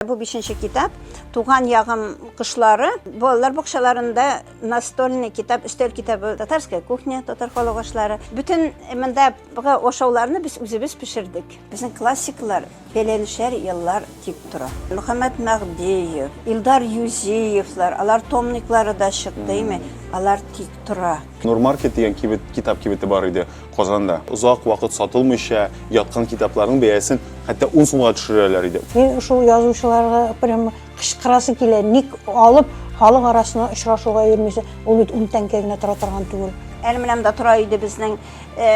Бу бишенче китап Туган ягым кышлары балалар бакчаларында настольный китап, өстәл китабы Татарская кухня, татар халык ашлары. Бөтен мондагы ашауларны без үзебез пешердек. Безнең классиклар бәләнешәр еллар дип тора. Мөхәммәд Мәгдиев, Илдар Юзеевлар, алар томниклары да чыкты, Алар тик тора. Нурмаркет дигән кибет, китап кибете бар иде Казанда. Озак вакыт сатылмыйча яткан китапларның бәясен хәтта 10 сумга төшерәләр иде. Мин шул язучыларга прям кычкырасы килә, ник алып халык арасына очрашуга йөрмисез? Ул бит 10 тәңкә генә тора торган түгел. Әле менәм дә тора иде безнең э,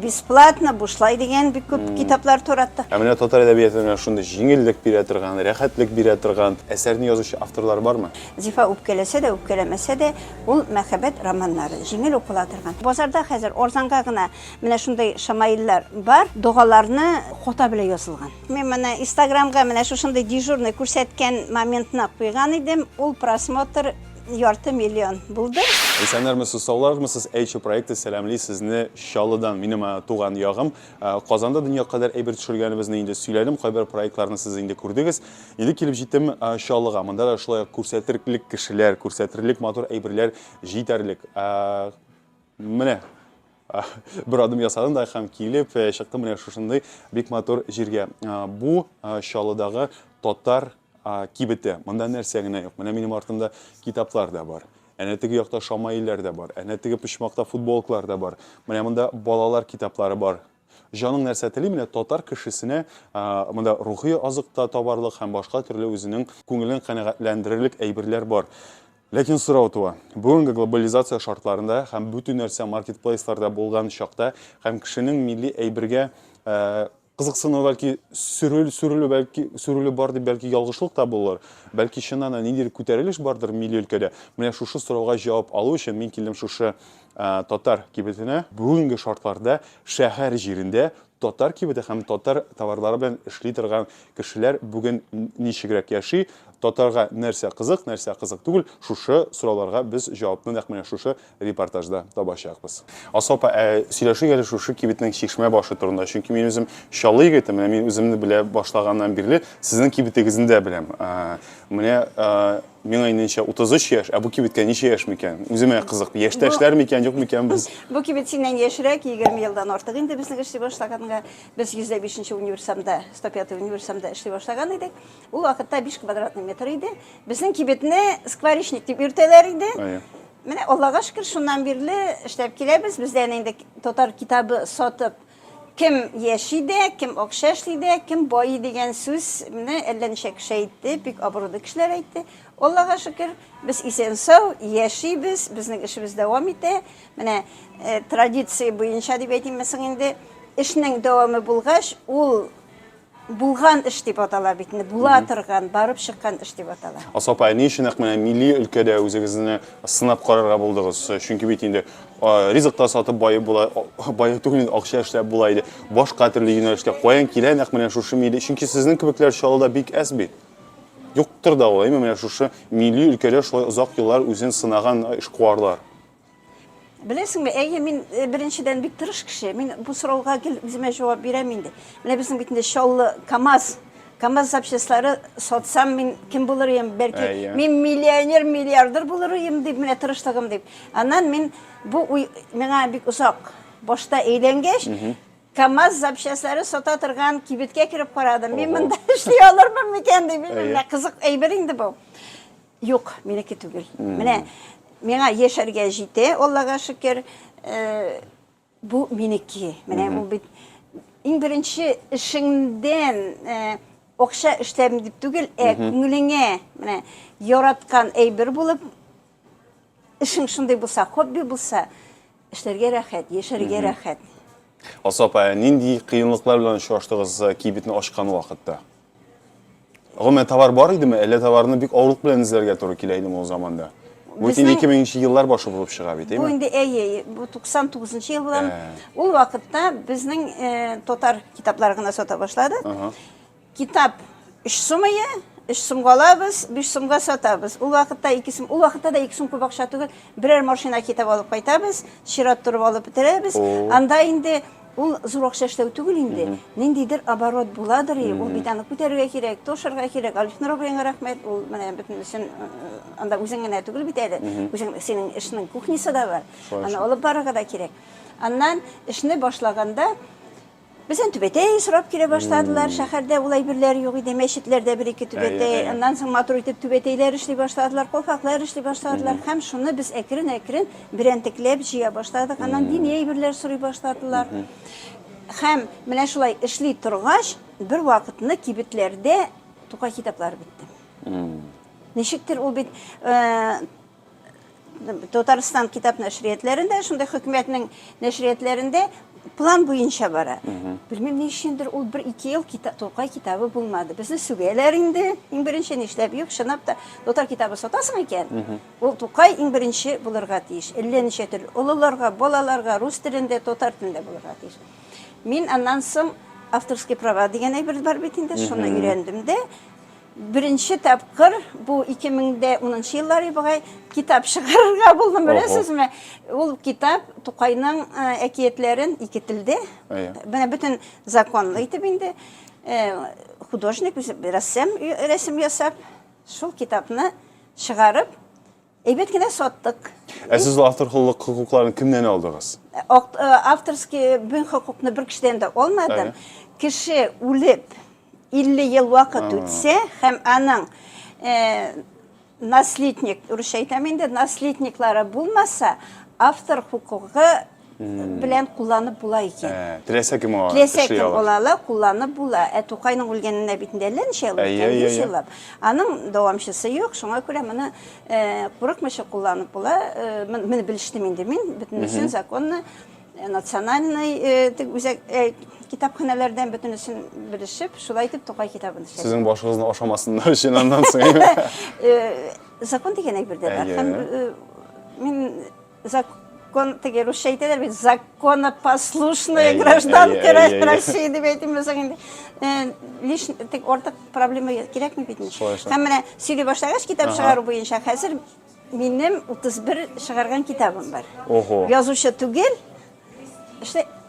бесплатно, бушлай дигән бик күп китаплар тураттык. Ә менә татар әдәбиятына шундый җиңеллек бирә торган, рәхәтлек бирә торган әсәрне язучы авторлар бармы? Зифа үпкәләсә дә, үпкәләмәсә дә, Ул мәхәббәт романнары, җиңел укыла торган. Базарда хәзер арзанга гына менә шундый шамаиллар бар, догаларны хата белән язылган. Мин моны инстаграмга менә шушындый дежурный күрсәткән моментны куйган идем, ул просмотр ярты миллион булды. Исәннәрмесез, саулармысыз, Әйче проекты сәламли сезне Чаллыдан, минем туган ягым. Казанда дөнья кадәр әйбер төшергәнебезне инде сөйләдем, кайбер проектларны сез инде күрдегез. Инде килеп җиттем Чаллыга. Монда да шулай ук күрсәтерлек кешеләр, күрсәтерлек матур әйберләр җитәрлек. Менә бер адым ясадым да һәм килеп э, чыктым менә шушындый бик матур җиргә. Бу Чаллыдагы татар кибете. Монда нәрсә генә юк. Менә минем артымда китаплар да бар. Әнә теге якта шамаилләр дә бар. Әнә теге почмакта футболкалар да бар. Менә монда балалар китаплары бар. Җаның нәрсә тели, менә татар кешесенә монда рухи азык та табарлык һәм башка төрле үзенең күңелен канәгатьләндерерлек әйберләр бар. Ләкин сорау туа, бүгенге глобализация шартларында һәм бөтен нәрсә маркетплейсларда булган чакта һәм кешенең милли әйбергә кызыксыну бәлки сүрел, сүрелү бәлки сүрелү бар дип бәлки ялгышлык та булыр. Бәлки чыннан да ниндидер күтәрелеш бардыр милли өлкәдә. Менә шушы сорауга җавап алу өчен мин килдем шушы татар кибетенә бүгенге шартларда шәһәр җирендә татар кибете һәм татар товарлары белән эшли торган кешеләр бүген ничегрәк яши, татарга нәрсә кызык, нәрсә кызык түгел, шушы сорауларга без җавапны нәкъ менә шушы репортажда табачакбыз. Асыл апа, ә сөйләшик әле шушы кибетнең чишмә башы турында, чөнки мин үзем Чаллы егете, менә мин үземне белә башлаганнан бирле сезнең кибетегезне дә беләм. Менә Миңа иненчә 33 яшь, ә бу кибеткә ничә яшь микән? Үземә кызык. Яшьтәшләр микән, юк микән без? Бу кибет синнән яшьрәк, 20 елдан артык инде безнең эшли башлаганга. Без 105 универсамда, 105 универсамда эшли башлаган идек. Ул вакытта 5 квадратный метр иде. Безнең кибетне скворечник дип йөртәләр иде. Әйе. Менә Аллага шөкер, шуннан бирле эшләп киләбез. Бездән инде татар китабы сатып, Кем яши дә, кем акча эшли дә, кем байый дигән сүз не әллә ничә кеше әйтте, бик абруйлы кешеләр әйтте. Аллага шөкер, без исән-сау яшибез, безнең эшебез дәвам итә. Менә традиция буенча дип әйтимме соң инде, эшнең дәвамы булгач, ул Булган эш дип атала бит инде. Була торган, барып чыккан эш дип атала. Асыл апа, ни өчен нәкъ менә милли өлкәдә үзегезне сынап карарга булдыгыз? Чөнки бит инде ризык та сатып баеп була, баеп түгел инде акча эшләп була иде. Башка төрле юнәлештә каян килә нәкъ менә шушы милли? Чөнки сезнең кебекләр Чаллыда бик әз бит. Юктыр да ул, әйме, менә шушы милли өлкәдә шулай озак еллар үзен сынаган эшкуарлар. Беләсеңме, әйе, мин э, беренчедән бик тырыш кеше. Мин бу сорауга гел үземә җавап бирәм инде. Менә безнең бит инде Чаллы, КАМАЗ, КАМАЗ запчастлары сатсам, мин кем булыр идем? Бәлки, әйе. мин миллионер, миллиардер булыр идем дип, менә тырышлыгым дип. Аннан мин бу уй миңа бик озак башта әйләнгәч, КАМАЗ запчастлары сата торган кибеткә кереп карадым. Мин монда эшли алырмын микән дип, менә кызык әйбер инде бу. Юк, минеке түгел. Менә миңа яшәргә җитә, Аллага шөкер. Э, бу минеке. Менә бу бит иң беренче эшеңдән э, акча эшләм дип түгел, ә күңелеңә менә яраткан әйбер булып эшең шундый булса, хобби булса, Эшләргә рәхәт, яшәргә рәхәт. Алсу апа, ә нинди кыенлыклар белән очраштыгыз э, кибетне ачкан вакытта? Гомумән товар бар идеме, әллә товарны бик авырлык белән эзләргә туры килә идеме ул заманда? Бу бит инде Безнең- 2000 еллар башы булып чыга бит, Бу әйме? инде әйе, бу 99 ел булган. Ә. Ул вакытта безнең э, татар китаплары гына сата башлады. Ага. Китап өч сум ие, өч сумга алабыз, биш сумга сатабыз. Ул вакытта ике сум, ул вакытта да ике сум күп акча түгел. Берәр машина китап алып кайтабыз, чират торып алып бетерәбез. Анда инде ул зур акча эшләү түгел инде. Ниндидер оборот буладыр, ул бит аны күтәрергә кирәк, тошырга кирәк. Алиф Нурабиянга рәхмәт, ул менә бөтен өчен анда үзең генә түгел бит әле. Үзең синең эшнең кухнясы да бар. Аны алып барырга да кирәк. Аннан эшне башлаганда Бездән түбәтәй сорап килә башладылар. Шәһәрдә ул әйберләр юк иде. Мәчетләрдә бер-ике түбәтәй. Аннан соң матур итеп түбәтәйләр эшли башладылар, калфаклар эшли башладылар. Һәм шуны без әкрен-әкрен берәнтекләп җыя башладык. Аннан дини әйберләр сорый башладылар. Һәм менә шулай эшли торгач, бервакытны кибетләрдә Тукай китаплары бетте. Ничектер ул бит Татарстан китап нәшриятләрендә, шундый хөкүмәтнең нәшриятләрендә план буенча бара. Белмим, ни өчендер ул бер ике ел кита, Тукай китабы булмады. Безне сүгәләр инде. Иң беренче нишләп юк, чынлап та татар китабы сатасың икән, ул Тукай иң беренче булырга тиеш. Әллә ничә төрле олыларга, балаларга, рус телендә, татар телендә булырга тиеш. Мин аннан соң авторский права дигән әйбер бар бит инде, шуны өйрәндем дә, Беренче тапкыр, бу 2010 еллары бугай, китап чыгарырга булдым, беләсезме? Ул китап Тукайның әкиятләрен ике телдә, менә бөтен законлы итеп инде, художник, рәссам рәсем ясап, шул китапны чыгарып, Әйбәт кенә саттык. Ә сез автор хокукларын кемнән алдыгыз? Э, э, авторский бүн хокукны бер кешедән дә алмадым. Кеше үлеп 50 ел вакыт үтсә һәм аның э, наследник, русча әйтәм инде, наследниклары булмаса, автор хокукы белән кулланып була икән. Теләсә кем ала, Теләсә эшли кем ала. ала ала, кулланып була. Ә Тукайның үлгәненә бит инде әллә ничә ел Әйе, үткән, әйе, 100 әйе. еллап. Аның дәвамчысы юк, шуңа күрә моны э, курыкмыйча кулланып була. Э, мен- Моны белештем инде мин, бөтенесен законны, э, национальный э, тег- үзәк э, китапханәләрдән бөтенесен белешеп, шулай итеп Тукай китабын эшләдем. Сезнең башыгызны ашамасыннар өчен аннан соң. Э, Закон дигән әйбер дә бар. Әйе. Һәм, э, Мин Закон, теге русча әйтәләр бит, законопослушная Әйе, гражданка әйе, әйе, әйе. России дип әйтим булсаң инде. э, Лиш, тек артык проблема кирәкми бит. инде. Шулай шул. Һәм менә сөйли башлагач китап Ага. чыгару буенча хәзер минем 31 чыгарган китабым бар. Ого. Язучы түгел,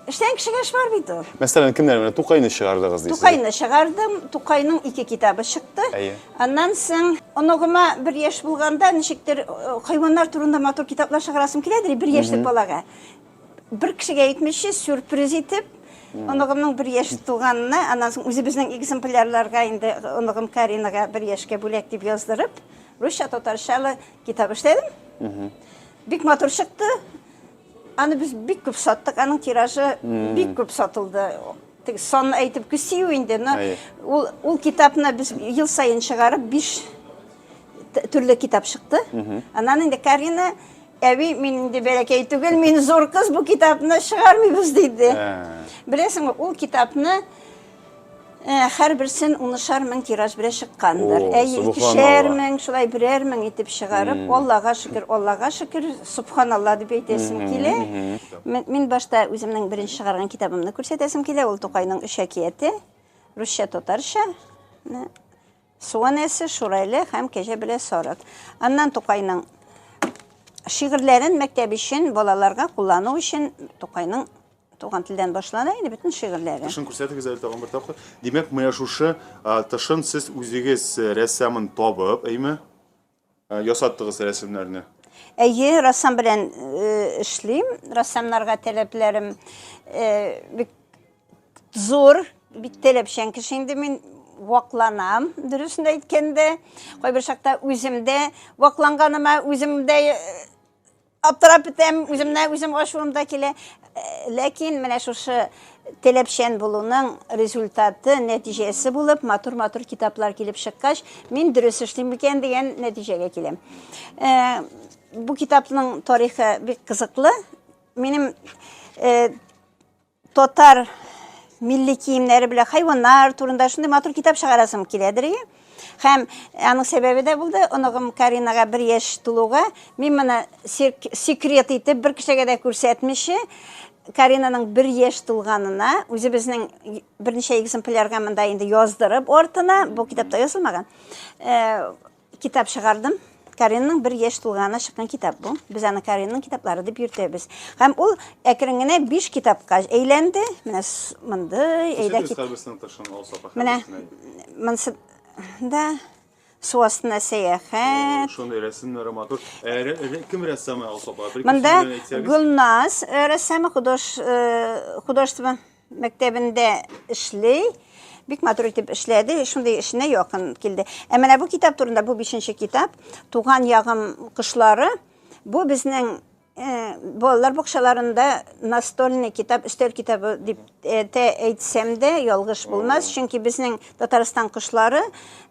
Эшләгән кешегә эш бар бит ул. Мәсәлән, кемнәр менә Тукайны чыгардыгыз дисез? Тукайны чыгардым, Тукайның ике китабы чыкты. Әйе. Аннан соң оныгыма бер яшь булганда ничектер э, хайваннар турында матур китаплар чыгарасым киләдер, бер яшьлек балага. Бер кешегә әйтмичә сюрприз итеп оныгымның бер яшь туганына, аннан соң үзебезнең экземплярларга инде оныгым Каринага бер яшькә бүләк дип яздырып, русча татарчалы китап эшләдем. Бик матур чыкты. Аны без бик күп саттык, аның тиражы бик күп сатылды. Тик санны әйтеп күсию инде, но ул ул китапны без ел саен чыгарып, биш төрле китап чыкты. Аннан инде Карина әби мин инде бәләкәй түгел, мин зур кыз, бу китапны чыгармыйбыз диде. Беләсеңме, ул китапны Ә, һәрберсен унышар мең тираж белән чыккандыр. О, Әйе, икешәр субханалла. мең, шулай берәр мең итеп чыгарып, Аллага шөкер, Аллага шөкер, субханалла дип әйтәсем килә. Ме- Мин башта үземнең беренче чыгарган китабымны күрсәтәсем килә, ул Тукайның өч әкияте, русча, татарча. Менә Су анәсе, Шурайле һәм Кәҗә белән сарык. Аннан Тукайның шигырьләрен мәктәп өчен, балаларга куллану өчен Тукайның Туган телдән башлана инде бөтен шигырьләре. Тышын күрсәтегез әле тагын бер тапкыр. Димәк, менә шушы тышын сез үзегез рәссамын табып, әйме? Ясаттыгыз рәсемнәрне. Әйе, рәссам белән эшлим. Рәссамнарга таләпләрем бик зур, бик таләпчән кеше инде мин вакланам, дөресен әйткәндә. Кайбер чакта үзем дә вакланганыма үзем дә Аптырап бетәм, үземнән үзем ачуым да килә. Э, ләкин менә шушы теләпчән булуның результаты, нәтиҗәсе булып, матур-матур китаплар килеп чыккач, мин дөрес эшлим микән дигән нәтиҗәгә киләм. Э, бу китапның тарихы бик кызыклы. Минем э, Татар милли киемнәре белән хайваннар турында шундый матур китап чыгарасым киләдер. Һәм аның сәбәбе дә булды, оныгым Каринага бер яшь тулуга, мин моны секрет итеп бер кешегә дә күрсәтмичә, Каринаның бер яшь тулганына, үзебезнең берничә экземплярга монда инде яздырып артына, бу китапта язылмаган, Китап чыгардым. Каринның бер яшь тулганына чыккан китап бу. Без аны Каринның китаплары дип йөртәбез. Һәм ул әкрен генә биш китапка әйләнде. Менә с- мондый әйдә Кичерегез, кит. хәрбисенең тышын алса апа, Менә хәрбисенең. монсы да су астына сәяхәт. Шундый рәсемнәре матур. Ә рә- рә- кем рәссамы Алсу апа? Бер Монда кеше белән әйтсәгез. Гөлназ э, рәссамы худож э, художество мәктәбендә эшли. Бик матур итеп эшләде, шундый эшенә якын килде. Ә менә бу китап турында, бу бишенче китап, Туган ягым кошлары. Бу безнең э, балалар бакчаларында настольный китап, өстәл китабы дип э, әйтсәм дә ялгыш булмас, чөнки безнең Татарстан кошлары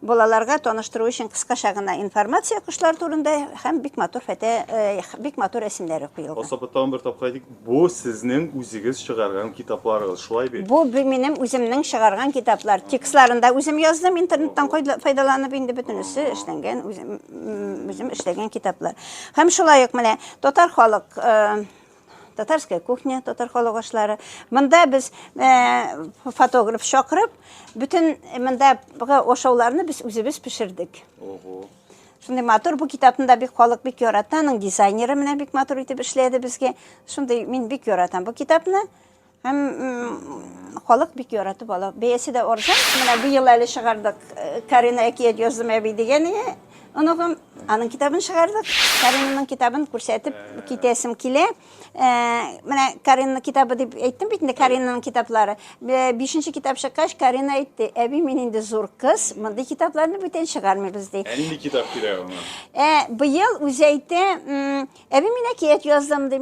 балаларга таныштыру өчен кыскача гына информация кошлар турында һәм бик матур фәтә э, бик матур рәсемнәре куелган. Асапа тагын бер тапкыр әйтик, бу сезнең үзегез чыгарган китапларыгыз, шулай бит? Бу минем үземнең чыгарган китаплар. Текстларын да үзем яздым, интернеттан файдаланып инде бөтенесе эшләнгән, үзем, үзем эшләгән китаплар. Һәм шулай ук менә татар халык э, татарская кухня, татар халык ашлары. Монда без э, фотограф чакырып, бүтән э, мондагы ашауларны без үзебез пешердек. Ого. Шундый матур бу китапны да бик халык бик ярата, аның дизайнеры менә бик матур итеп эшләде безгә. Шундый мин бик яратам бу китапны. Һәм халык бик яратып ала. Бәясе дә арзан. Менә быел әле чыгардык. Э, Карина әкият яздым әби дигән оныгым. Аның китабын чыгардык. Каринаның китабын күрсәтеп китәсем килә. Э, менә Каринаның китабы дип әйттем бит инде, Каринаның китаплары. Э, бишенче китап чыккач, Карина әйтте, әби, мин инде зур кыз, мондый китапларны бүтән чыгармыйбыз ди. Ә нинди китап кирәк аңа? Быел үзе әйтә, әби, мин әкият яздым ди.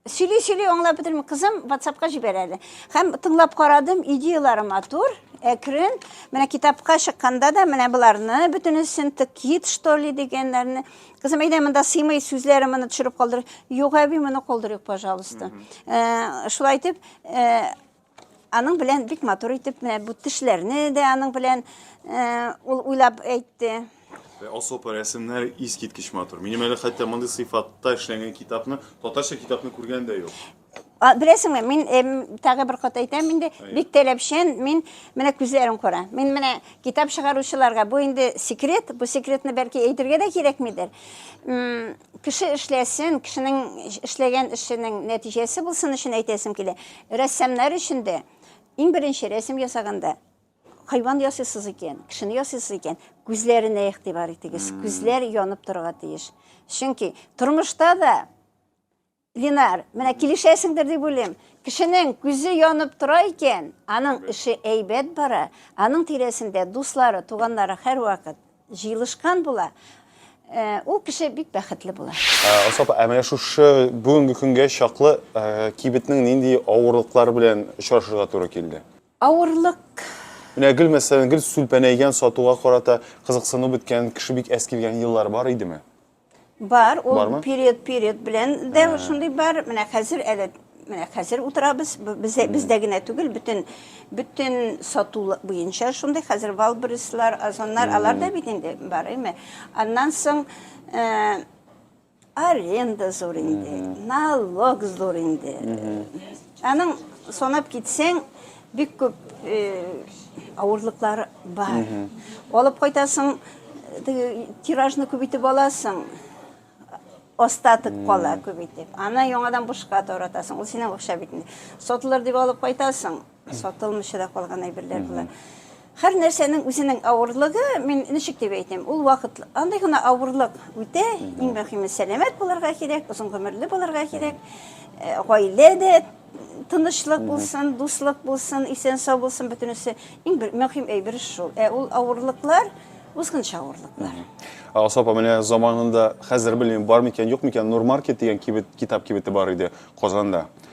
Сөйли сөйли аңлап бетермим. Кызым WhatsAppка җибәрә әле. Һәм тыңлап карадым, идеяләре матур, әкрен. Менә китапка чыкканда да менә боларны бөтенесен тыкит что ли дигәннәрне. Кызым әйдә монда сыймый сүзләре моны төшереп калдыр. Юк, әби, моны калдырыйк, пожалуйста. Э, шулай итеп, э, Аның белән бик матур итеп менә бу тешләрне дә аның белән э, ул уйлап әйтте. Вә Асылпа рәсемнәре искиткеч матур. Минем әле хәтта мондый сыйфатта эшләнгән китапны, татарча китапны күргән дә юк. А, Беләсеңме, мин эм, тагы бер кат әйтәм инде, бик таләпчән, мин менә күзләрен күрә. Мин менә китап чыгаручыларга бу инде секрет, бу секретны бәлки әйтергә дә кирәкмидер. М, Кеше эшләсен, кешенең эшләгән эшенең нәтиҗәсе булсын өчен әйтәсем килә. Рәссамнар өчен дә, иң беренче рәсем ясаганда, хайван ясыйсыз икән, кешене ясыйсыз икән, күзләренә игътибар итегез. Күзләр янып торырга тиеш. Чөнки тормышта да Линар, менә килешәсеңдер дип уйлыйм. Кешенең күзе янып тора икән, аның эше әйбәт бара, аның тирәсендә дуслары, туганнары һәрвакыт җыелышкан була, ул кеше бик бәхетле була. Алсу апа, ә менә шушы бүгенге көнгә чаклы кибетнең нинди авырлыклар белән очрашырга туры килде? Авырлык. Менә гел, мәсәлән, гел сүлпәнәйгән, сатуга карата кызыксыну беткән, кеше бик әз килгән еллар бар идеме? Бар, ул Бармы? период, период белән дә шундый бар. Менә хәзер әле менә хәзер утырабыз. Б- Бездә, бездә генә түгел, бөтен бөтен сату буенча шундый. Хәзер Валберислар, Озоннар, алар да бит инде бар, әйме. Аннан соң э, аренда зур инде, налог зур инде. Аның санап китсәң, Бик күп авырлыклар бар. Алып кайтасың, тиражны күбитеп аласың, остаток кала күбитеп. Аны яңадан бушка таратасың. Ул синең акча бит инде. Сатылыр дип алып кайтасың, сатылмыйча да калган әйберләр була. Һәр нәрсәнең үзенең авырлыгы, мин ничек дип әйтим, ул вакыт, андый гына авырлык үтә, иң мөһиме сәламәт булырга кирәк, озын гомерле булырга кирәк, э, гаилә дә тынычлык булсын, дуслык булсын, исән сау булсын бөтенесе. Иң бер мөһим әйбер шул. Ә ул авырлыклар, узгынча авырлыклар. Алсу апа, менә заманында, хәзер белмим, бар микән, юк микән, Нурмаркет дигән кибет, китап кибете бар иде Казанда.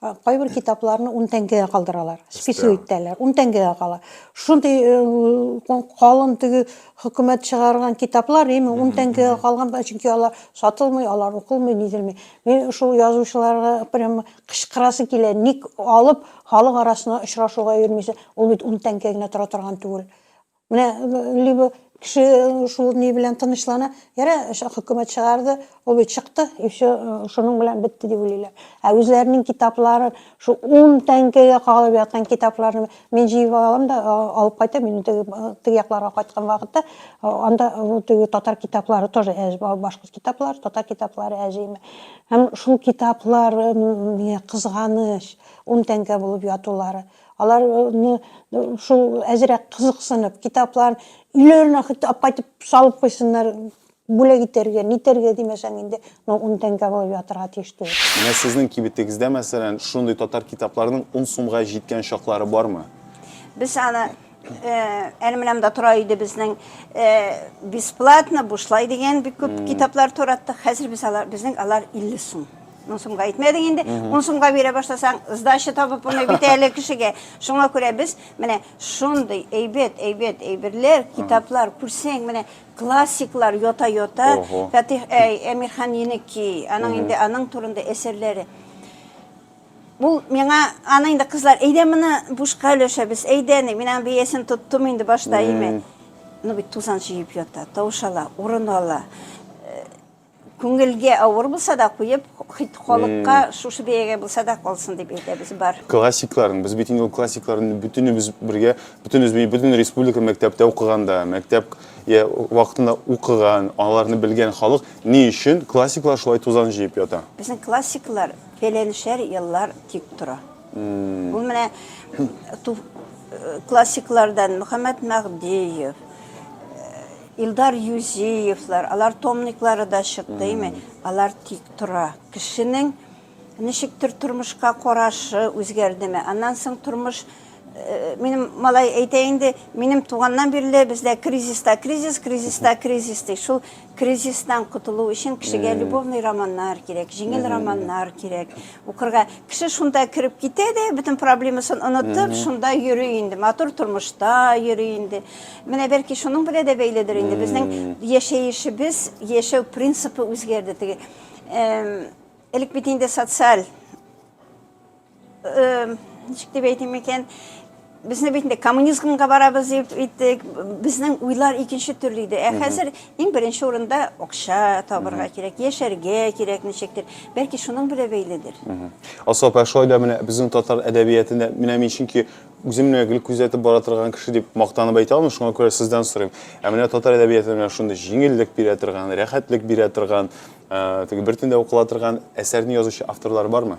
Кайбер китапларны ун тәңкәгә калдыралар, список итәләр, ун тәңкәгә кала. Шундый калын теге хөкүмәт чыгарган китаплар, ими ун тәңкәгә калган, чөнки алар сатылмый, алар укылмый, низелмей. Мин шул язучыларга прямо кычкырасы килә, ник алып халык арасына очрашуга йөрмисез, ул бит ун тәңкә генә тора торган түгел. Менә либо кеше шул ни белән тынычлана, яра хөкүмәт чыгарды, ул бит чыкты, и все, шуның белән бетте дип уйлыйлар. Ә үзләренең китапларын, шул 10 тәңкәгә калып яткан китапларны мин җыеп алам да алып кайтам, мин теге теге якларга кайткан вакытта анда теге татар китаплары тоже башкорт китаплары, татар китаплары әҗиме. Һәм шул китаплар кызганыч 10 тәңкә булып ятулары. Алар шул әзрәк кызыксынып, китаплар өйләренә хәтта апайтып салып куйсыннар, бүләк итәргә, нитәргә димәсәң инде, но ун тәңкә булып ятырга тиеш түгел. Менә сезнең кибетегездә, мәсәлән, шундый татар китапларының ун сумга җиткән чаклары бармы? Без аны Әле менәм дә тора иде безнең бесплатно, бушлай дигән бик күп китаплар тораттык. Хәзер без алар, безнең алар 50 сум. Ну, сумга әйтмәдек инде. 10 сумга бирә башласаң, сдача табып булмый бит әле кешегә. Шуңа күрә без менә шундый әйбәт, әйбәт әйберләр, китаплар күрсәң, менә классиклар йота-йота, Фәтих Әмирхан Еники, аның инде аның турында әсәрләре. Ул миңа, аны инде кызлар, әйдә моны бушка өләшәбез, әйдә, ник, мин аның бәясен тоттым инде башта, әйме. Ну бит тузан җыеп ята, тавыш ала, урын ала. Күңелгә авыр булса да куеп, хит халыкка шушы бәягә булса да калсын дип әйтәбез, бар. Классикларын, без бит инде ул классикларын бөтенебез бергә, бөтенебез бит бөтен республика мәктәптә укыганда, мәктәп я вакытында укыган, аларны белгән халык ни өчен классиклар шулай тузан җыеп ята? Безнең классиклар Пеленшер еллар тик тора. Бу менә классиклардан Мөхәммәт Мәгдиев, Илдар Юзиевлар, алар томниклары да чыкты, име? Алар тик тора. Кешенең ничектер тормышка карашы үзгәрдеме? Аннан соң тормыш Минем малай әйтә инде, минем туганнан бирле бездә кризиста кризис, кризиста кризис ди. Шул кризистан котылу өчен кешегә любовный романнар кирәк, җиңел романнар кирәк. Укырга кеше шунда кереп китә дә, бөтен проблемасын онытып, шунда йөри инде, матур тормышта йөри инде. Менә бәлки шуның белән дә бәйледер инде. Безнең яшәешебез, яшәү принципы үзгәрде. Теге элек бит инде социаль ничек дип әйтим икән безне бит инде коммунизмга барабыз дип әйттек безнең уйлар икенче төрле иде ә хәзер иң беренче урында акча табырга кирәк яшәргә кирәк ничектер бәлки шуның белән бәйледер асыл апа шулай да менә безнең татар әдәбиятында менә мин чөнки үзем менә гел күзәтеп бара торган кеше дип мактанып әйтә алмыйм шуңа күрә сездән сорыйм ә менә татар әдәбиятында менә шундый җиңеллек бирә торган рәхәтлек бирә торган теге бер төндә укыла торган әсәрне язучы авторлар бармы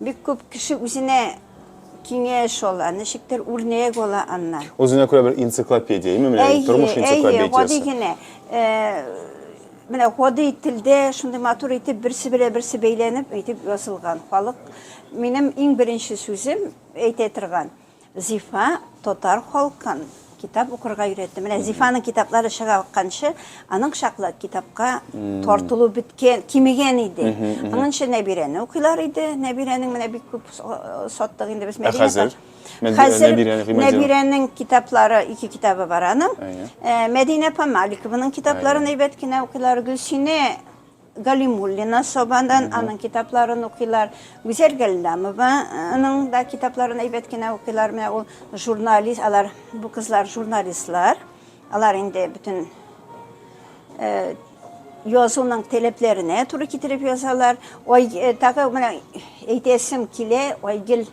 Бик күп кеше үзенә киңәш ала, ничектер үрнәк ала аннан. Үзенә күрә бер энциклопедия, яме менә тормыш энциклопедиясе. Әйе, гади генә. Менә гади телдә шундый матур итеп берсе белән берсе бәйләнеп әйтеп язылган. Халык минем иң беренче сүзем әйтә торган. Зифа татар халкын китап укырга өйрәтте. Менә Зифаның китаплары чыга акканчы, аның чаклы китапка тартылу беткән, кимегән иде. Аның өчен Нәбирәне укыйлар иде. Нәбирәнең менә бик күп саттык инде без Ә хәзер? Хәзер Нәбирәнең китаплары, ике китабы бар аның. Мәдинә апа Маликованың китапларын әйбәт кенә укыйлар. Гөлсинә Галимуллина Сабадан аның китапларын укыйлар. Гүзәл Галләмованың да китапларын әйбәт кенә укыйлар. Менә ул журналист, алар бу кызлар журналистлар. Алар инде бөтен язуның таләпләренә туры китереп язалар. Ой, тагы менә әйтәсем килә, Айгел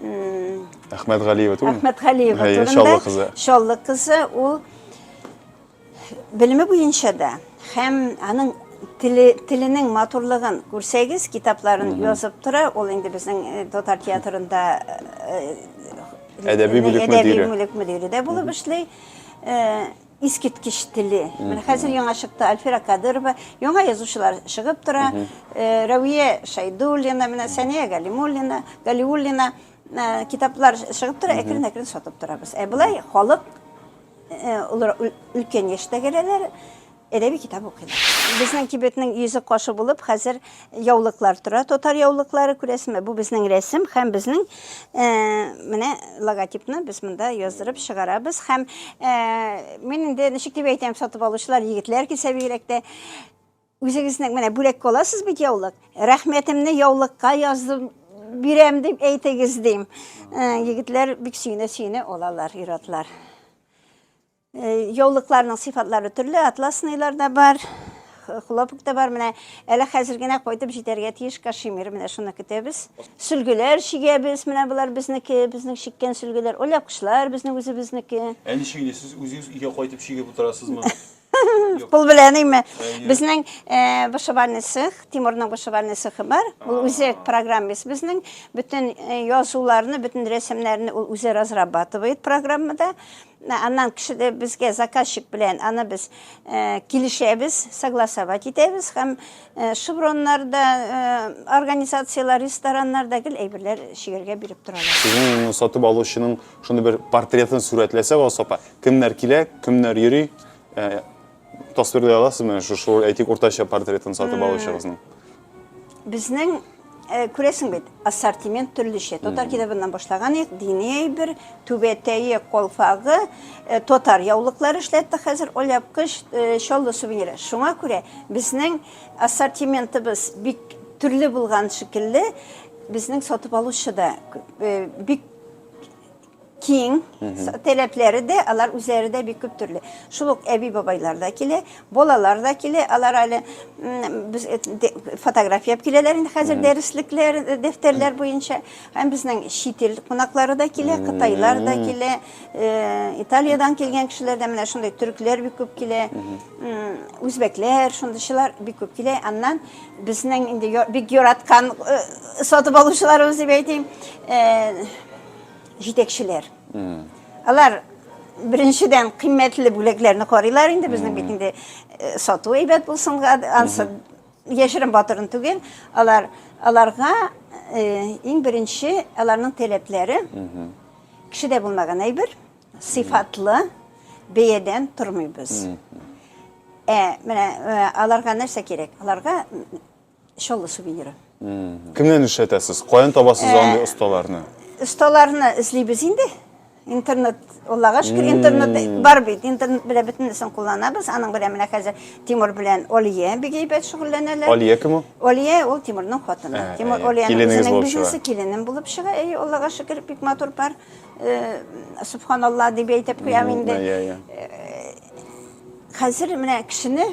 Әхмәтгалиева түгел? Әхмәтгалиева турында. Чаллы кызы. Чаллы кызы, ул Белеме буенча да һәм аның теле, теленең матурлыгын күрсәгез, китапларын язып тора. Ул инде безнең э, татар театрында э, әдәби бүлек мөдире. бүлек мөдире дә булып эшли. Э, искиткеч теле. Менә хәзер яңа чыкты Альфира Кадырова, яңа язучылар чыгып тора. Рәвия Шайдуллина, менә Сәния Галимуллина, Галиуллина китаплар чыгып тора, әкрен-әкрен сатып торабыз. Ә былай халык Өлкән яшьтәгеләр әдәби китап укыйлар. Безнең кибетнең йөзе кашы булып хәзер яулыклар тора. Татар яулыклары күрәсеме? Бу безнең рәсем һәм безнең менә логотипны без монда яздырып чыгарабыз. Һәм мин инде ничек дип әйтәм, сатып алучылар егетләр килсә бигрәк тә. Үзегезнең менә бүләккә аласыз бит яулык. Рәхмәтемне яулыкка яздым, бирәм дип әйтегез дим. Э, егетләр бик сөенә-сөенә алалар ир-атлар. Э, яулыкларның сыйфатлары төрле, атласныйлар да бар, хлопок та бар. Менә әле хәзер генә кайтып җитәргә тиеш кашемир. Менә шуны көтәбез. Сөлгеләр чигәбез. Менә болар безнеке, безнең чиккән сөлгеләр. Оляпкычлар безнең үзебезнеке. Ә ничек инде сез үзегез өйгә кайтып чигеп утырасызмы? Пул белән име? Безнең э, вышивальный цех, Тимурның вышивальный цехы бар. Ул үзәк программист безнең. Бөтен э, язуларны, бөтен рәсемнәрне ул үзе разрабатывает программада. Ә, Аннан кеше дә безгә заказчик белән аны без э, килешәбез, согласовать итәбез һәм э, шевроннарда, э, организацияләр, рестораннарда гел әйберләр шигергә биреп торалар. Сезнең сатып алучының Шуны бер портретын сүрәтләсәк, Алсапа, кемнәр килә, кемнәр йөри, э, тасвирлый аласызмы? Шу шу әйтик уртача портретын сатып алучыгызның. Безнең э, күрәсең бит, ассортимент төрлечә. Татар китабыннан башлаган идек, дини әйбер, түбәтәе, колфагы, э, татар яулыклары эшләтте хәзер, оляпкыч, э, чаллы сувениры. Шуңа күрә безнең ассортиментыбыз бик төрле булган шикелле, безнең сатып алучы да күп. Э, бик киң, таләпләре дә, алар үзләре дә бик күп төрле. Шул ук әби бабайлар да килә, балалар да килә, алар әле без э, фотография алып киләләр инде хәзер дәреслекләр, э, дәфтәрләр буенча. Һәм безнең чит ил кунаклары да килә, кытайлар да килә, э, Италиядән килгән кешеләр дә менә шундый төрекләр бик күп килә, үзбәкләр, шундыйчылар бик күп килә. Аннан Безнең инде бик яраткан сатып алучыларыбыз дип әйтим, җитәкчеләр. Алар беренчедән кыйммәтле бүләкләрне карыйлар инде, безнең бит инде сату әйбәт булсын, ансы яшерен батырын түгел. Алар аларга иң беренче аларның таләпләре кешедә булмаган әйбер, Сыйфатлы бәядән тормыйбыз. Ә менә э, аларга нәрсә кирәк? Аларга шоллы сувениры. Кемнән эшләтәсез? Каян табасыз э, андый осталарны? Осталарны эзлибез инде. Интернет, Аллага шөкер, интернет бар бит. Интернет белән бөтенесен кулланабыз. Аның белән менә хәзер Тимур белән Олия бик әйбәт шөгыльләнәләр. Олия кем ул? Олия ул Тимурның хатыны. Э, Тимур Олияның бизнесы киленем булып чыга. Әй, Аллага шөкер, бик матур пар. Субханалла дип әйтеп куям инде. Хәзер менә кешене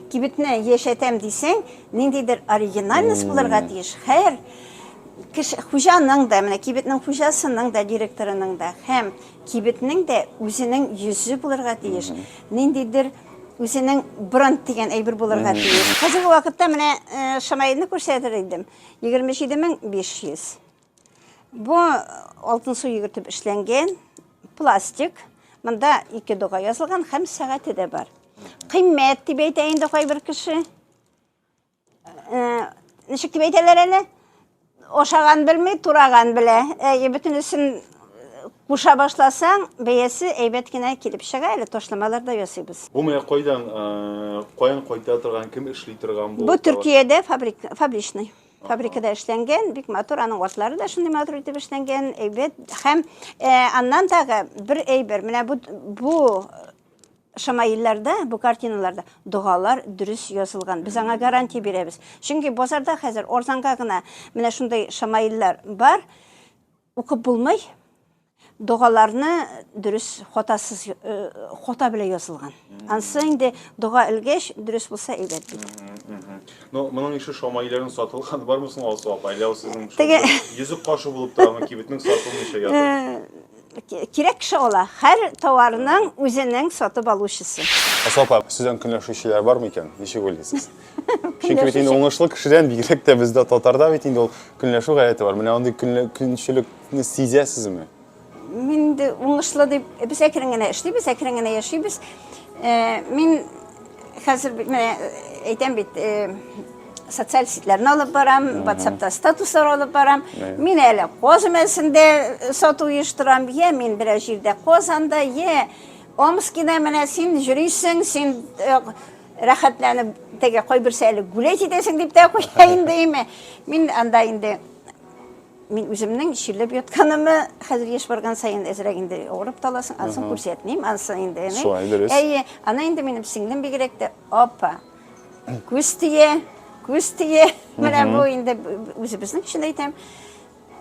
кибетне яшәтәм дисәң, ниндидер оригинальность булырга тиеш. Һәр кеше хуҗаның да, менә кибетнең хуҗасының да, директорының да һәм кибетнең дә үзенең йөзе булырга тиеш. Ниндидер үзенең бренд дигән әйбер булырга тиеш. Хәзерге вакытта менә Шамаилне күрсәтер идем. 27500. Бу алтын су йөгертеп эшләнгән пластик. Монда ике дога язылган һәм сәгате дә бар. Кыйммәт дип әйтә инде кайбер кеше. Э, ничек дип әйтәләр әле? Ашаган белми, тураган белә. Әйе, бөтенесен куша башласаң, бәясе әйбәт кенә килеп чыга, әле ташламалар да ясыйбыз. Бу менә кайдан, э, каян кайта торган, кем эшли торган бу? Бу Төркиядә фабрик, фабричный. фабрикада эшләнгән, бик матур, аның атлары да шундый матур итеп эшләнгән, әйбәт. Һәм э, аннан тагы бер әйбер, менә бу, бу шамаилларда, бу картиналарда догалар дөрес язылган. Без аңа гарантия бирәбез. Чөнки базарда хәзер арзанга гына менә шундый шамаиллар бар. Укып булмый. Догаларны дөрес хатасыз хата белән язылган. Ансы инде дога элгәч дөрес булса әйбәт бит. Ну, моның ише шамайларын сатылган бармы соң Алсу апа? Әллә сезнең йөзек кашы булып торамы кибетнең сатылмыйча ятып? Кирәк кеше ала. Һәр товарның үзенең сатып алучысы. Алсу апа, сездән көнләшүчеләр бармы икән? Ничек уйлыйсыз? Чөнки бит инде уңышлы кешедән бигрәк тә бездә татарда бит инде ул көнләшү гадәте бар. Менә андый көнчелекне сизәсезме? Мин инде уңышлы дип без әкрен генә эшлибез, әкрен генә яшибез. Э, мин хәзер менә э, әйтәм бит, э, социаль сетләрне алып барам, WhatsAppта статуслар алып барам. Мин әле коз мәсендә сату оештырам, я мин берәр җирдә Казанда, я Омскида менә син җөрисең, син Рәхәтләнеп теге кайберсе әле гүләй җитәсең дип тә куя инде име. Мин анда инде мин үземнең чирләп ятканымы хәзер еш барган саен әзрәк инде авырып таласың анысын күрсәтмим анысы инде әйе аны инде минем сеңлем бигрәк тә апа күз тия күз тия менә бу инде үзебезнең өчен әйтәм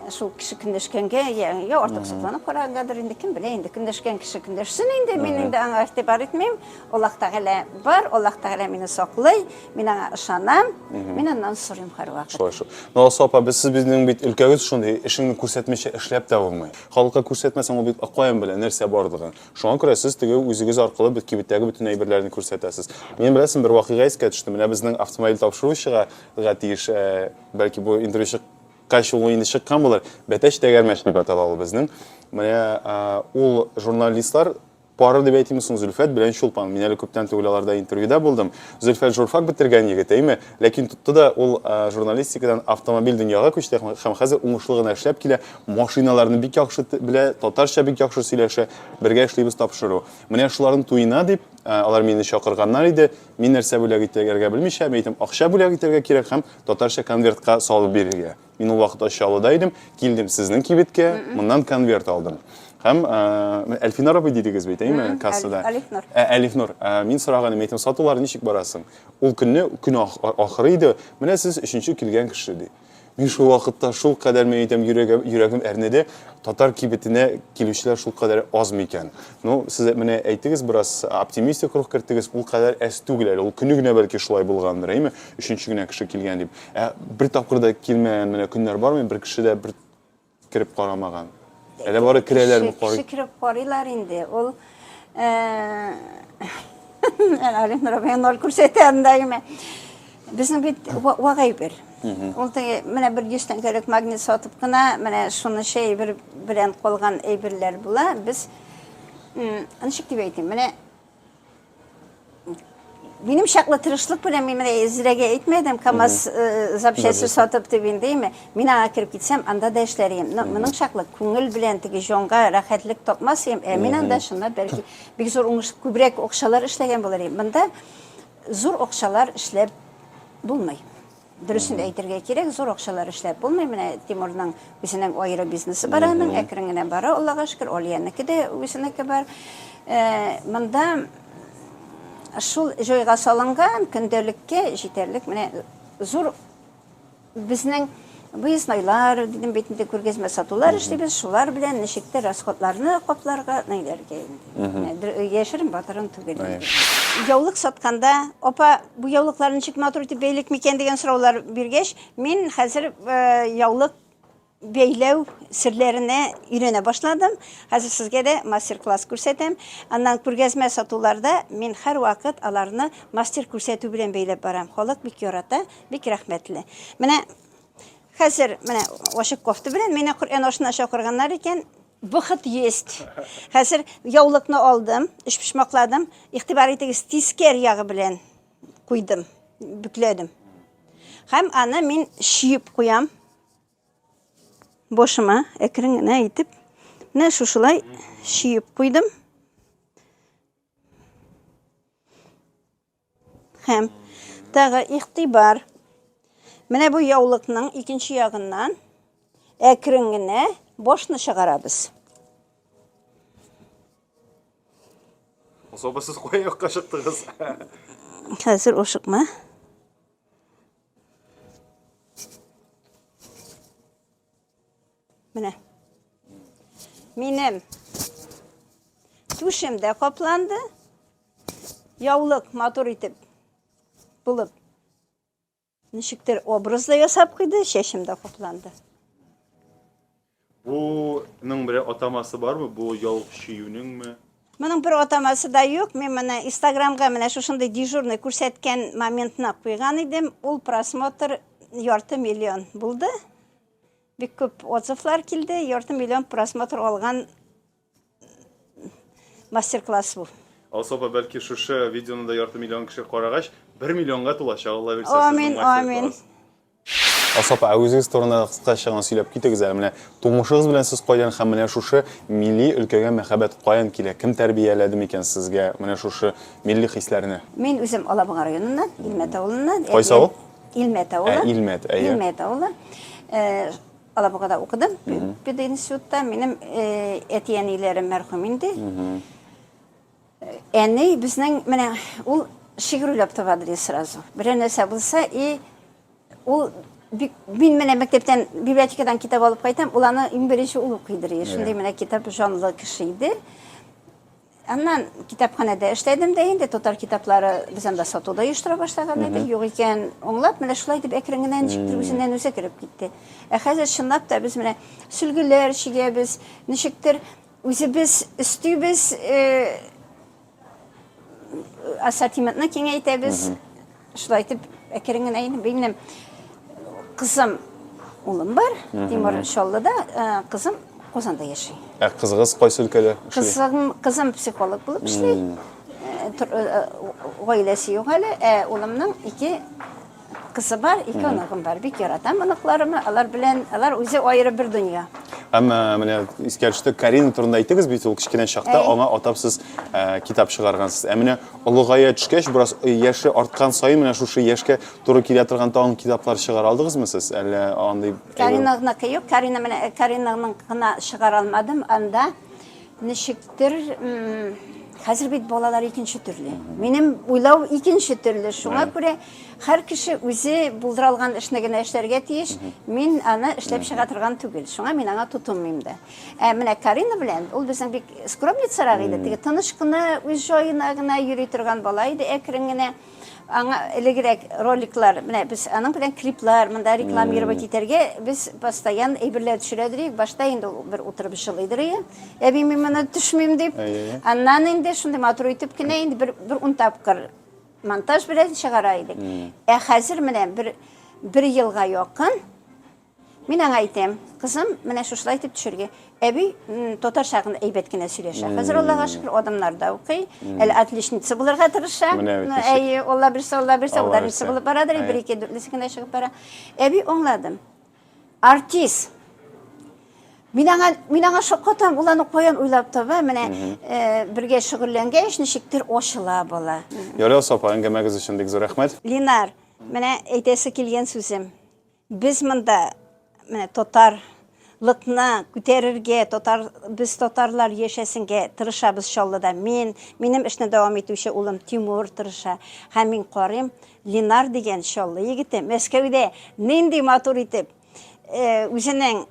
Шул кеше көндәшкәнгә, я, я артыксызланып карагангадыр инде, кем белә инде, көндәшкән кеше көндәшсен инде, мин инде аңа игътибар итмим. Аллаһ Тәгалә бар, Аллаһ Тәгалә мине саклый, мин аңа ышанам, мин аннан сорыйм һәрвакыт. Шулай шул. Ну, Алсу апа, без сез безнең бит өлкәгез шундый, эшеңне күрсәтмичә эшләп тә булмый. Халыкка күрсәтмәсәң, ул бит акаен белә нәрсә барлыгын. Шуңа күрә сез теге үзегез аркылы бит кибеттәге бөтен әйберләрне күрсәтәсез. Мин беләсең, бер вакыйга искә төште. Менә безнең автомобиль тапшыручыга га тиеш, э, бәлки бу интервью чык Кайчы ул инде чыккан булыр. Бәтәч тәгәрмәч дип атала ул безнең. Менә ул журналистлар пары дип әйтимме соң Зөлфәт белән Чулпан. Мин әле күптән түгел аларда интервьюда булдым. Зөлфәт журфак бетергән егет, әйме? Ләкин тотты да ул журналистикадан автомобиль дөньяга күчте һәм хәзер уңышлы гына эшләп килә. Машиналарны бик яхшы белә, татарча бик яхшы сөйләшә. Бергә эшлибез тапшыру. Менә шуларның туена дип, алар мине чакырганнар иде. Мин нәрсә бүләк итәргә белмичә, мин әйтәм, акча бүләк итәргә кирәк һәм Татарча конвертка салып бирергә. Мин ул вакыт Чаллыда идем, килдем сезнең кибеткә, моннан конверт алдым. Һәм ә, Әлфинар абый дидегез бит, әйме, кассада? Әлифнур. Ә, Әлифнур, ә, мин сораганым, әйтем, сатулар ничек барасың? Ул көнне, көн ах- ахыры иде, менә сез өченче килгән кеше, ди. Мин шул вакытта шул кадәр мин әйтәм, йөрәгем, йөрәгем әрнеде, татар кибетенә килүчеләр шул кадәр аз микән? Ну, сез менә әйтегез, бераз оптимистик рух кертегез, ул кадәр әз түгел әле, ул көне генә бәлки шулай булгандыр, әйме? Өченче генә кеше килгән дип. Ә бер тапкыр да килмәгән менә көннәр бармы? Бер кеше дә бер кереп карамаган. Әле бары керәләрме карый? Кеше кереп карыйлар инде. Ул Алим Рабия ноль күрсәтә анда юме. Безнең бит вагай бер. Ул теге менә бер 100 тәңкәлек магнит сатып кына менә шуны шәй бер белән калган әйберләр була. Без ничек дип әйтим? Менә Минем чаклы тырышлык белән мин менә Зирәгә әйтмәдем, КАМАЗ э, запчасте сатып дип инде, име? Мин аңа кереп китсәм, анда да эшләр идем. Но моның чаклы күңел белән теге җанга рәхәтлек тапмас идем. Ә мин анда чынлап бәлки бик зур уңыш, күбрәк акчалар эшләгән булыр идем. Монда зур акчалар эшләп булмый. Дөресен әйтергә кирәк, зур акчалар эшләп булмый. Менә Тимурның үзенең аеры бизнесы бар аның, әкрен генә бара, Аллага шөкер, Алиянеке дә үзенеке бар. Э, монда шул җайга салынган көндәлеккә җитәрлек менә зур безнең выезднойлар, дидем бит инде күргәзмә сатулар эшлибез, шулар белән ничектер расходларны капларга, найләргә инде. Яшерен батырын түгел. Яулык сатканда, апа, бу яулыклар ничек матур итеп бәйлек микән дигән сораулар биргәч, мин хәзер яулык бәйләү серләренә өйрәнә башладым. Хәзер сезгә дә мастер-класс күрсәтәм. Аннан күргәзмә сатуларда мин һәрвакыт аларны мастер күрсәтү белән бәйләп барам. Халык бик ярата, бик рәхмәтле. Менә Хәзер менә ачык кофта белән мине Коръән ашына чакырганнар икән. Бөхет есть. Хәзер яулыкны алдым, өч почмакладым. Игътибар итегез, тискәр ягы белән куйдым, бүкләдем. Һәм аны мин шиеп куям. Бошыма әкрен генә итеп, менә шушылай шиеп куйдым. Һәм тагы игътибар. Менә бу яулыкның икенче ягыннан әкрен генә башны чыгарабыз. Особо сез кая якка чыктыгыз? Хәзер ошыкма. Менә. Минем түшем дә капланды. Яулык матур итеп булып ничектер образ да ясап куйды, чәчем дә капланды. Буның бер атамасы бармы? Бу яулык чөюнеңме? Моның бер атамасы да юк. Мин менә Инстаграмга менә шушындый дежурный күрсәткән моментны куйган идем. Ул просмотр ярты миллион булды. Бик күп отзывлар килде. Ярты миллион просмотр алган мастер-класс бу. Алсу апа, бәлки шушы видеоны да ярты миллион кеше карагач, бер миллионга тулачак, Алла бирсә, сезнең мастер-класс. Амин, амин. Асаф, ә үзегез турында да кыскача гына сөйләп китегез әле. Менә тумышыгыз белән сез кайдан һәм менә шушы милли өлкәгә мәхәббәт каян килә? Кем тәрбияләде микән сезгә менә шушы милли хисләрне? Мин үзем Алабуга районыннан, Илмәт авылыннан. Кайсы авыл? Илмәт авылы. Ә, Илмәт, әйе. Илмәт авылы. Алабугада укыдым, пединститутта. Минем әти-әниләрем мәрхүм инде. Әни безнең менә ул шигырь уйлап таба бели сразу. Берәр нәрсә булса и ул бик мин менә мәктәптән библиотекадан китап алып кайтам, ул аны иң беренче ул укый дери. Шундый менә китап җанлы кеше иде. Аннан китапханәдә эшләдем дә инде татар китаплары без анда сатуда оештыра башлаган иде. Юк икән, аңлап, менә шулай дип әкрен генә ничектер үзеннән үзе кереп китте. Ә хәзер чынлап та без менә сөлгеләр чигәбез, ничектер Үзебез өстибез, ассортиментны киңәйтәбез. Шулай итеп, әкрен генә инде минем кызым, улым бар. Тимур Чаллыда, кызым Казанда яши. Ә кызыгыз кайсы өлкәдә эшли? Кызым, кызым психолог булып эшли. Гаиләсе юк әле, ә улымның ике Кызы бар, ике оныгым бар. Бик яратам оныкларымны. Алар белән, алар үзе аеры бер дөнья. Әмма менә искә төште, Карина турында әйттегез бит, ул кечкенә чакта Әй. аңа атап сез ә, китап чыгаргансыз. Ә менә олыгая төшкәч, бераз э, яше арткан саен менә шушы яшькә туры килә торган тагын китаплар чыгара алдыгызмы сез? Әллә андый Каринагныкы юк, Карина менә Каринагның гына чыгара алмадым. Анда Ничектер, хәзер бит балалар икенче төрле. Минем уйлау икенче төрле. Шуңа күрә һәр кеше үзе булдыра алган эшне генә эшләргә тиеш. Мин аны эшләп чыга торган түгел. Шуңа мин аңа тотынмыйм да. Ә менә Карина белән ул безнең бик скромницарак иде. Теге тыныч кына, үз җаена гына йөри торган бала иде, әкрен генә. Аңа элегрәк роликлар, менә без аның белән клиплар, монда рекламировать итәргә без постоянно әйберләр төшерә идек. Башта инде ул бер утырып җылый идек. Әби, мин моны төшмим дип. Аннан инде шундый матур итеп кенә инде бер бер ун тапкыр монтаж белән чыгара идек. Ә хәзер менә бер бер елга якын Мин аңа әйтәм, кызым, менә шушылай итеп төшерге. Әби татарча гына әйбәт кенә сөйләшә. Хәзер Аллага шөкер, адымнарда укый. Әле отличница булырга тырыша. Әйе, Алла бирсә, Алла бирсә, ударница булып барадыр, бер ике дүртлесе генә чыгып бара. Әби, аңладым. Артист. Мин аңа, мин аңа шаккатам, ул аны каян уйлап таба, менә бергә шөгыльләнгәч, ничектер ачыла бала. Ярый, Алсу апа, әңгәмәгез өчен бик зур рәхмәт. Линар, менә әйтәсе килгән сүзем. Без монда менә татар лыкны күтәрергә, татар, без татарлар яшәсенгә тырышабыз Чаллыда. Мин, минем эшне дәвам итүче улым Тимур тырыша. Һәм мин карыйм, Ленар дигән Чаллы егете Мәскәүдә нинди матур итеп э, үзенең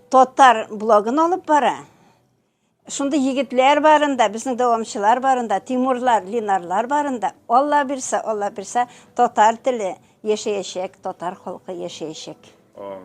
татар блогын алып бара. Шундый егетләр барында, безнең дәвамчылар барында, Тимурлар, Линарлар барында, Алла бирсә, Алла бирсә, татар теле яшәячәк, татар халкы яшәячәк. Амин.